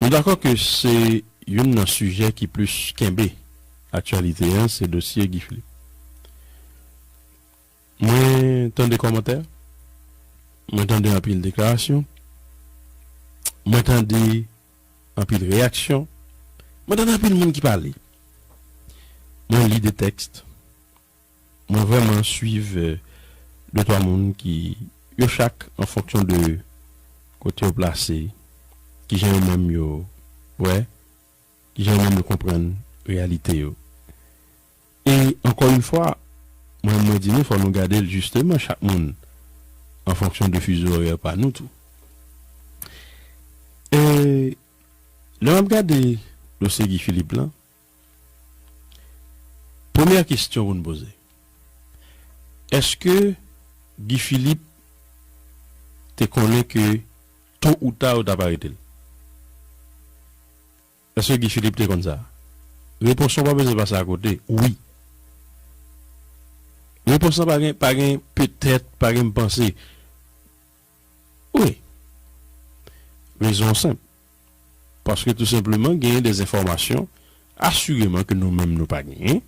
Nou dakò ke se youn nan sijè ki plis kenbe aktyalite an se dosye Guy Philippe. Mwen tande kòmantè, mwen tande anpil deklarasyon, mwen tande anpil reyaksyon, mwen tande anpil moun ki pale, mwen li de tèks, Mwen vrèman swiv de twa moun ki yo chak an fonksyon de kote yo plase, kijan yo menm yo wè, kijan yo menm yo konprann reyalite yo. E ankò yn fwa, mwen menm mwen di nou fò nou gade l jisteman chak moun an fonksyon de fuseau horaire pa nou tou. E lè map gade dosye Guy Philippe lan. Premyè kestyon pou n poze, eske Guy Philippe te konnen ke to ou ta yo t ap arete l? Eske Guy Philippe te konn sa? Repons lan pa bezwen pase akote, wi. Repons lan pa gen petèt, pa gen m panse. Wi. Rezon an senp. Paske tou senpleman genyen de enfòmasyon asireman ke nou menm nou pa genyen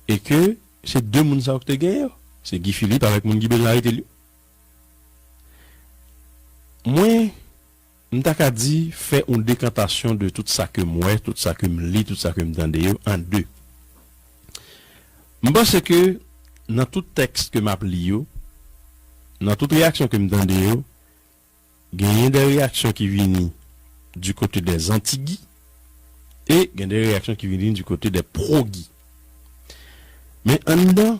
e ke se de moun sa yo ki te genyen yo. Se Guy Philippe avèk moun ki bezwen arete l yo. Mwen. M ta ka di, fè yon dekantasyon de tout sa ke m wè, tout sa ke m li, tout sa ke m tande yo an de. M panse ke nan tout tèks ke m ap li yo, nan tout reyaksyon ke m tande yo, genyen de reyaksyon ki vini di kote de zantigi e gen de reyaksyon ki vini di kote de pwogi. Men anndan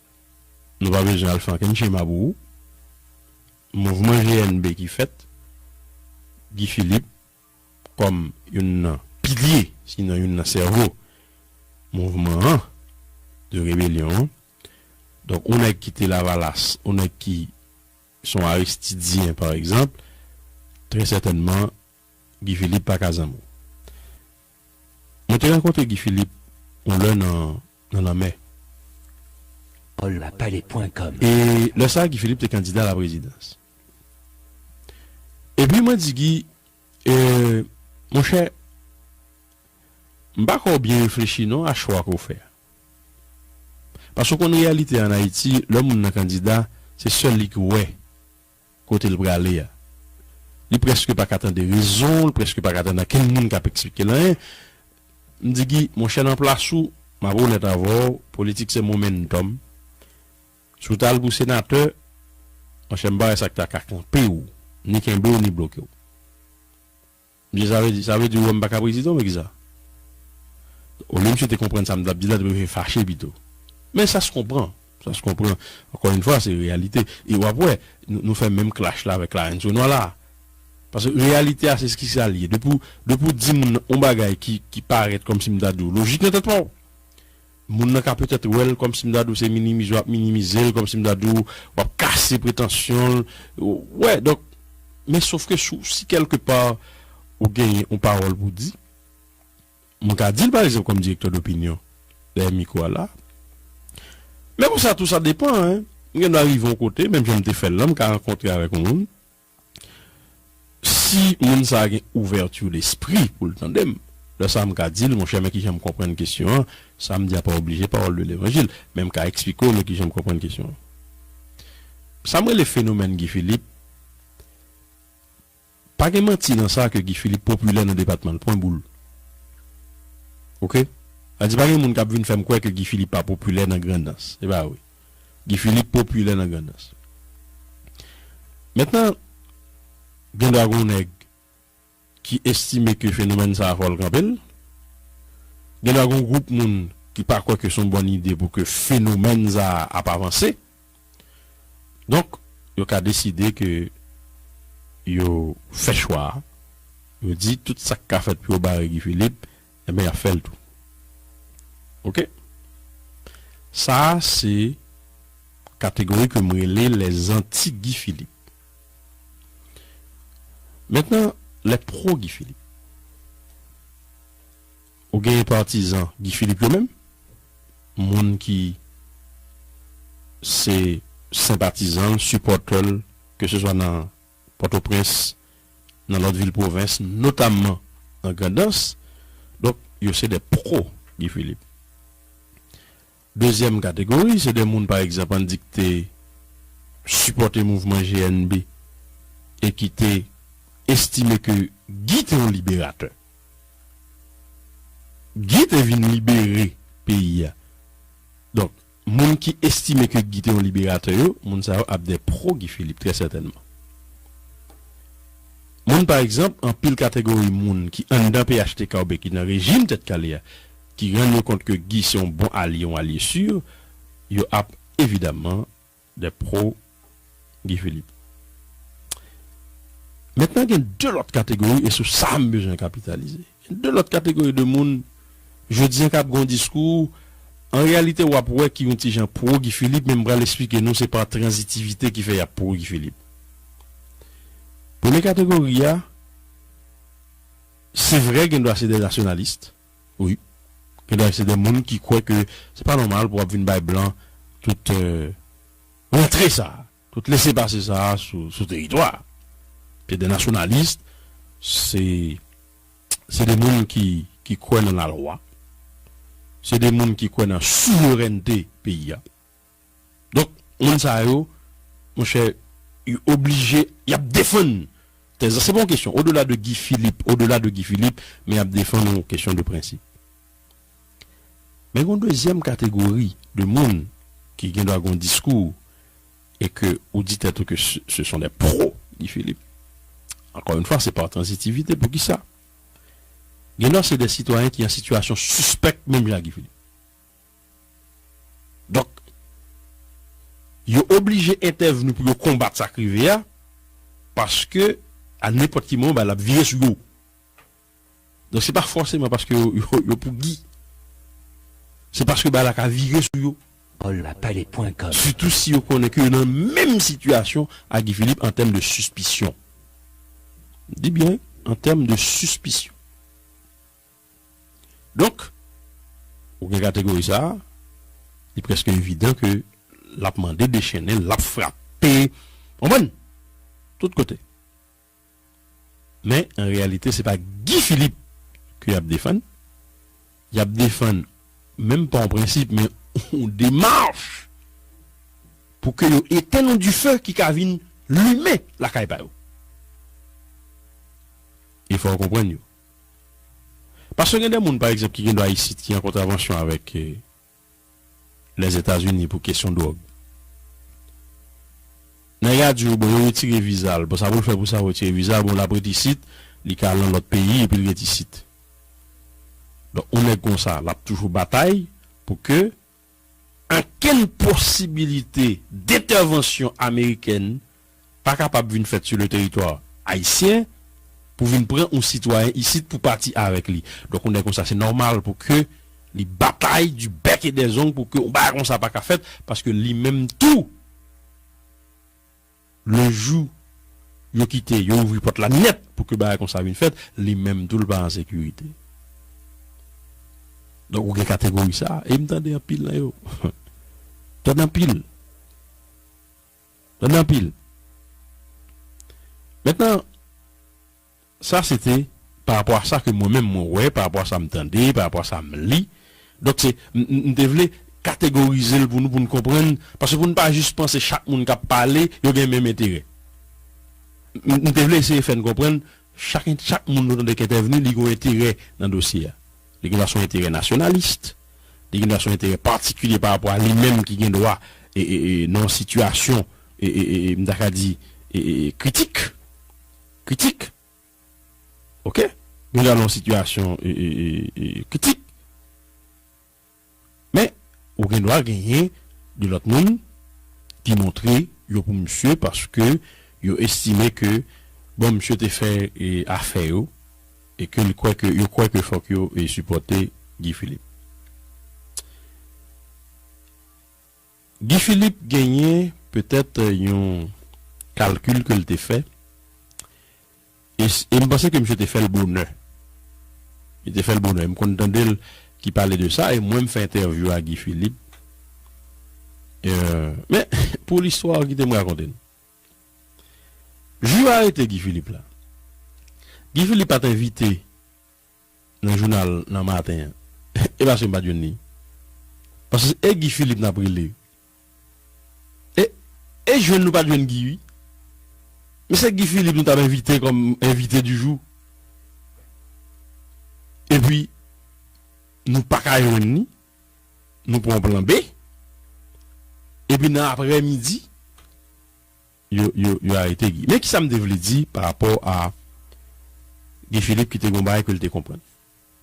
Nou pa bezwen al fè ankenn chema pou ou. Mouvman GNB ki fèt, Guy Philippe kòm youn nan pilye, sinon youn nan sèvo mouvman an, de rebelyon an. Donk, on nèg ki te Lavalas, on nèg ki se yon Aristidyen, pa egzanp, trè sètènman Guy Philippe pa ka zanmi w. Mwen te rakonte Guy Philippe yon lè nan nan lanmè. Paulapale.com E lè sa Guy Philippe te kandida la prezidans. E pi mwen di Guy e mon chè m pa kwè w byen reflechi non a chwa ke w fè a. Paske w konn reyalite an Ayiti lè moun nan kandida se sèl li ki wè Kote l prale a? Li prèske pa ka tande rezon, li prèske pa ka tande ankenn moun k ap eksplike l anyen. M di Gi, monchè nan plas ou, m ap onèt avè w, politik se momentòm. Si w ta al pou senatè, monchè m pa wè sa k ta ka kanpe w, ni kenbe w, ni bloke w. Mesye sa vle di sa vle di ou wèm paka prezidan oubyen kisa olye misye te konprann sa m tap di la li prefere fache pito men sa se konpran sa se konpran ankò yn fwa se reyalite e wap wè nou fè menm klash la avèk larenn sonwa la paske reyalite a se ski sa li ye depi w depi w di moun on bagay ki ki parèt kòmsi m ta di w lojik nan tèt pa w. Moun nan ka petèt wè l kòmsi m ta di w se minimize w ap minimize l, kòmsi m ta di w w ap kase pretansyon l, wè donk men sofke sou si kèlke pa ou genyen yon pawòl pou w di mwen ka di l pa egzanp kòm direktè dopinyon dèyè mikwo a la men konsa tou sa depan mwen gen dwa rive yon kote menm jan m te fè l lan m ka rankontre avèk yon moun Si moun sa a gen ouverture d'esprit pou l tande m, lè sa a m ka di l, monchè men kijan m konprann kesyon an, sa m di a pa oblije pawòl de levanjil, men m ka eksplike w men kijan m konprann kesyon an. Sa m rele fenomèn Guy Philippe, pa gen manti nan sa ke Guy Philippe popilè nan depatman l, pwen boul. Ok? Sa vle di pa gen moun k ap vin fè m kwè ke Guy Philippe pa popilè nan Grandans. Se pa vre. Guy Philippe popilè nan Grandans. Mentnan, gendwa gon nèg ki estime ke fenomèn sa a fò l kanpe l. Gendwa gon gwoup moun ki pa kwè ke s on bòn ide pou ke fenomèn sa a ap avanse. Donk, yo ka deside ke yo fè chwa a, yo di tout sa k ka fèt pou yo bare Guy Philippe, Enben yap fèl tou ok. Sa se kategori ke m rele les anti Guy Philippe. Mentnan les pro Guy Philippe. Ou genyen patizan Guy Philippe yo menm, moun ki se senpatizan l, sipòtè l, ke se swa nan. Pòtoprens, nan lòt vil pwovens, notamman nan Grandans. Donk, yo se de pwo Guy Philippe. Dezyèm kategori, se de moun pa egzanp an n di ki te sipòte mouvman GNB e ki te estime ke Guy te yon liberatè. Guy te vin libere peyi a. Donk, Moun ki estime ke Guy te yon liberatè yo, moun sa yo ap dè pro Guy Philippe, trè sètènman. Moun pa egzanp, anpil kategori moun ki anndan phtk oubyen ki nan rejim Tèt Kale a, ki rann yo kont ke Guy se yon bon alye, yon alye sur, yo ap evidamman Des pro Guy Philippe. Mentnan gen 2 lòt kategori e sou sa m bezwen kapitalize. Gen 2 lòt kategori de moun jodi an k ap gen yon diskou an reyalite w ap wè ki yon ti jan pro Guy Philippe men m pral esplike nou se pa transitivite ki fè y ap pro Guy Philippe. Premye kategori a se vre gen dwa se des nationalistes. Wi. Gen dè se dè moun ki kwè ke se pa nòmal pou ap vin bay blan tout rantre sa a, tout lese pase sa a sou teritwa a. Se dè nasyonalis, se dè moun ki kwè nan lalwa, se dè moun ki kwè nan souverènte peyi a. Donk moun sa yo monchè yo oblije y ap defann tèz la. Se pa yon kesyon odela de Guy Philippe, odela de Guy Philippe men y ap defann yon kesyon de prensip. Men gen yon dezyèm kategori de moun ki gendwa gen yon diskou e ke ou di tèt ou ke se son dè pro Guy Philippe. Ankò yon fwa se pa transitivite pou ki sa? Gendwa se dè sitwayen ki an sitiyasyon sispèk menm jan ak Guy Philippe. Donk, yo oblije entèvni pou yo konbat sa k rive a, paske a nenpòt ki moman, bagay la ap vire sou yo. Donk, se pa fòseman paske yo pou Guy. Se paske bagay la ka vire sou yo. Paulapale.com Sitou si yo konnen ke yo nan menm sitiyasyon a Guy Philippe an tèm de sispisyon. M di byen, an tèm de sispisyon. Donk, ou gen kategori sa a, li prèske evidan ke l ap mande dechennen, l ap frape, konprann, tout kote. Men, an reyalite, se pa Guy Philippe ke y ap defann, y ap defann, menm pa yon prensip, men yon demach pou ke yo etenn yon dife ki ka vin limen lakay pa yo. E fò ou konprann yo. Paske gen de moun pa egzanp ki gen dwa isit ki an kontravansyon avèk Lèzetazini pou kesyon dwòg. Nèg la di ou bon yo retire viza l, bon sa pou l fè pou sa yo retire viza l, bon l ap ret isit, li ka al nan lòt peyi epi l ret isit. Donk yon nèg konsa l ap toujou batay pou ke. Okenn posibilite dentèvansyon amerikèn pa kapab vin fèt su le teritwa ayisyen pou vin pran oun sitwayen isit pou pati avèk li. Donk oun nèg konsa se nòmal pou ke li batay du bec et des ongles pou ke oun bagay konsa pa ka fèt paske li menm tou, Le jou yo kite, yo ouvri pòt la nèt pou ke bagay konsa vin fèt, li menm tou l pa an sekirite. Donk ou gen kategori sa a. E m tande anpil nan yo. M tande anpil. M tande anpil. Mentnan, Sa se te pa rapò a sa ke mwen menm mwen wè, pa rapò a sa m tande, pa rapò a sa m li. Donk se, m te vle kategorize l pou nou, pou n konprann, paske pou n pa jis panse chak moun k ap pale, yo gen menm enterè. M te vle eseye fè n konprann, chak en, chak moun nou tande k entèvni, li gen yon enterè nan dosye a. Li gen dwa se yon enterè nasyonalist, li gen dwa se yon enterè patikilye pa rapò a li menm ki gen dwa e, e, e nan yon sitiyasyon e, e, e, e m ta ka di e, e, e kritik. kritik ok nou nan yon sitiyasyon kritik men ou gen dwa genyen de lòt moun ki montre yo pou misye paske yo estime ke bon misye te fè afè yo e ke li kwè ke yo kwè ke fòk yo sipòte Guy Philippe. Guy Philippe genyen petèt yon kalkil ke l te fè e e m panse ke misye te fè l bonè. Li te fè l bonè. M konn tande l ki pale de sa e mwen m fè entèvyou a Guy Philippe men pou listwa a kite m rakonte n. Jou yo arete Guy Philippe la, Guy Philippe pa t envite nan jounal nan maten an e paske m pat jwenn li paske e Guy Philippe nap rele e e jwenn nou pat jwenn Guy wi men se Guy Philippe nou tap envite kòm envite di jou epi nou paka jwenn li nou pran plan B epi nan aprè midi. yo arete Guy. Men kisa m te vle di pa rapò a Guy Philippe ki te gen yon bagay ke l te konprann.